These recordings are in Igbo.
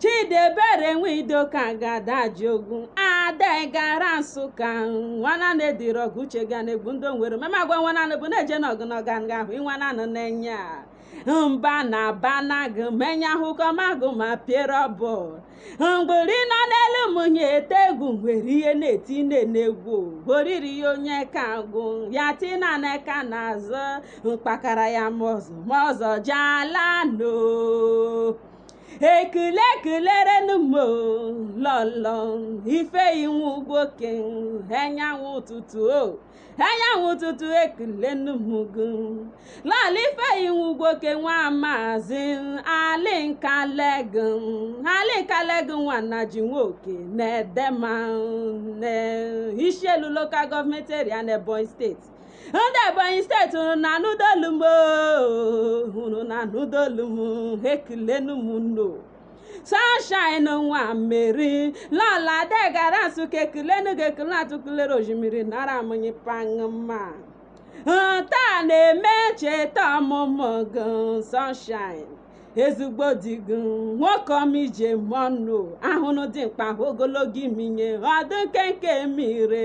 Chidiebere Nwidoka ga-ada Ajiogwu ada gara Nsụka nwana na-ediri ọgụ uche ga na-egbu ndị onwere mama agwa nwana bụ na-eje n'ọgụ na ọga nga ahụ ịnwana nọ n'enya mba na bana gị menya ahụkọ magụ ma piere ọbụ mgburi nọ n'elu munyi ete egwu nwere ihe na-eti nne na-egwu oriri ya onye ka agwụ ya tina na ka na-azụ mkpakara ya mọzụ mọzọ jala no ekele ekelerenu m o, lọlọ Ifeyinwa Ugwoke enyanwụ ụtụtụ o enyanwụ ụtụtụ ekelenu m gị lọlọ Ifeyinwa Ugwoke nwa maazị ali Nkalegu ali Nkalegu nwa Nnaji Nwoke na-edema na Ishielu Local Government Area na ebonyi steeti ndị ebonyi steeti unu na-anụdo olu m oo, unu na-anụdo olu m ekelenu m unu o sunshine nwa mmeri lọlọ adegara nsụka ekelenu gị ekele atụkụlere osimiri nara munyi pangma taa na-eme ncheta ọmụmụ gị sunshine ezigbo di gị nwoke ọma i ji eme ọnụ ahụnụ dimkpa ahụ ogologo imi nye ọdụ nkenke mire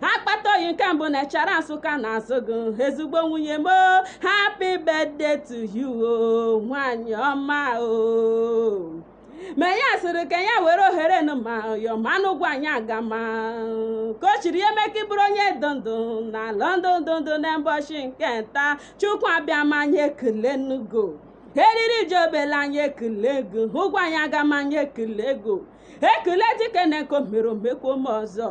akpata oyi nke mbụ na Echara nsụka na-asị gị ezigbo nwunye m o, happy birthday to you o, nwanyị ọma o ma ya sịrị ka ya were ohere nụ ma yọmanụ Ugwuanyị Agama ka o chiri ya mee ka ị bụrụ onye dị ndụ n'ala ndị dị ndụ na mbọchị nke nta Chukwu Abịama anyị ekelenu gị o eriri ji obele anyị ekele gị Ugwuanyị Agama anyị ekele gị o ekele dike na nke o mere o mekwo m ọzọ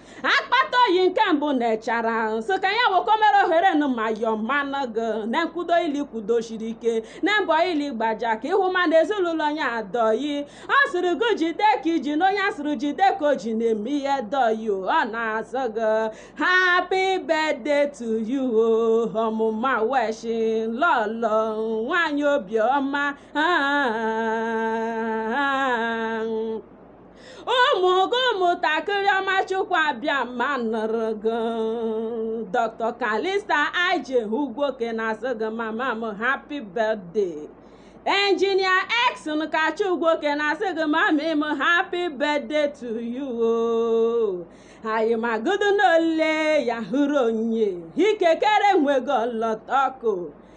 akpata oyi nke mbụ na Echara sị ka ya woko mere ohere nụ ma yọọ mmanụ gị na nkwudo ili kwudosiri ike na mbọ ili gbaja ka ịhụ ma na ezinụlọ ya adị oyi ọ sịrị gị jide ka i ji na onye asịrị jide ka o ji na-eme ihe dị oyi o, ọ na-asị gị happy birthday to you o, ọmụma weshi lọlọ nwanyị obiọma ah, ah, ah. ụmụ gị ụmụntakịrị ọma Chukwu Abịama nụrụ gị dr Calista ije ugwoke na-asị gị mama m happy birthday engineer exon kacha ugwoke na-asị gị mama m happy birthday to you o anyị magodo n'ole ya hụrụ onye ikekere nwego lọtọko